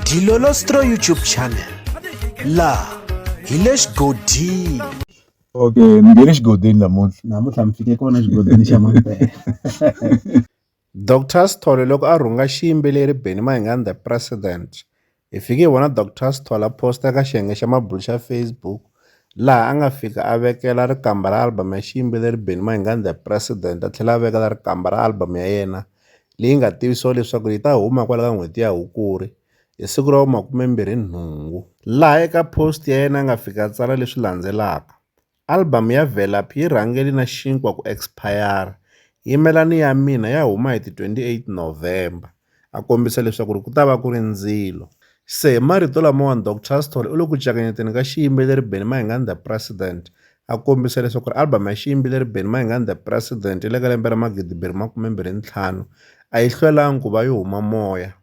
Dilolostro YouTube channel la hi le xigodini okay ni nge le xigodini namuntlha namuntlha mi fike kona xigodini xa mampela Dr Sithole loko a rhunga xiyimbeleri Benny Mayengani the president hi fike hi vona Dr Sithole a posta eka xiyenge xa mabulu xa Facebook laha a nga fika a vekela rikamba ra album ya xiyimbeleri Benny Mayengani the president a tlhela a vekela rikamba ra album ya yena leyi nga tivisiwa leswaku yi ta huma kwala ka n'hweti ya Hukuri hi siku ra vu-28, laha eka post ya yena a nga fika a tsala leswi landzelaka, Albhamu ya Velaphi yi rhangele na xinkwa ku ekspayara, Yimelani ya Mina ya huma hi ti 28 November, a kombisa leswaku ku ta va ku ri ndzilo. Se hi marito lamawani Dr Sithole u le ku cakanyeteni ka xiyimbeleri Benny Mayengani The President a kombisa leswaku ri album ya xiyimbeleri Benny Mayengani The President le ka lembe ra 2025 a yi hlwelanga ku va yi huma moya.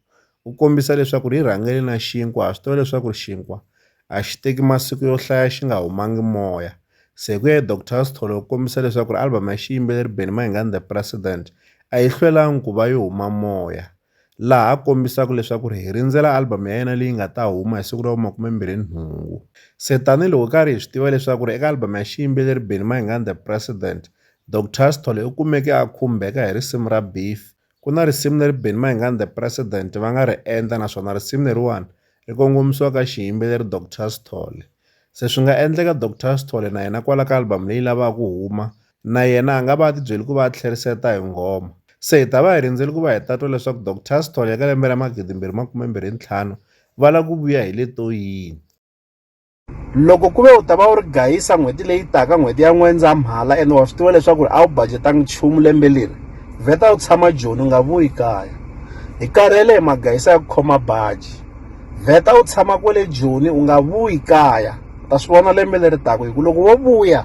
U kombisa leswaku ri yi rhangele na xinkwa ha swi tiva leswaku ri xinkwa a xi teki masiku yo hlaya xi nga humangi moya. Se hi ku ya hi Dr Sithole u kombisa leswaku ri album ya xiyimbeleri Benny Mayengani The President a yi hlwelanga ku va yi huma moya. laha a kombisaka leswaku ri hi rindzela album ya yena leyi nga ta huma hi siku ra vu-28 se tanihiloko hi karhi hi swi tiva leswaku ri eka album ya xiyimbeleri Benny Mayengani the President Doctor Sithole u kumeke a khumbeka hi risimu ra Beef ku na risimu leri Benny Mayengani the President va nga ri endla naswona risimu leriwani ri kongomisiwa ka xiyimbeleri Doctor Sithole se swi nga endleka Doctor Sithole na yena kwala ka album leyi lavaka ku huma Na yena a nga va a tibyele ku va a tlheriseta hi nghoma. Se hi ta va hi rindzele ku va hi ta twa leswaku Dok. Tastall ya ka lembe ra magidimbirhi makumembirhi ntlhanu va lava ku vuya hi leto yini. Loko ku ve u ta va u ri gayisa n'hweti leyi taka, n'hweti ya N'wendzamhala, ene wa swi tiva leswaku a wu bajetanga nchumu lembe leri, vheta u tshama Joni, u nga vuyi kaya. Hi karhele hi magayisa ya ku khoma baji. Vheta u tshama kwale Joni, u nga vuyi kaya. U ta swi vona lembe leri taka, hikuva loko wo vuya,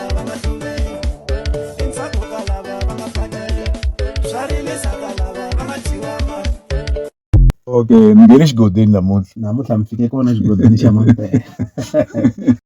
okay mi nge ni xigodeni namuntlha namuntlha mi fike kona xigodeni xa mampela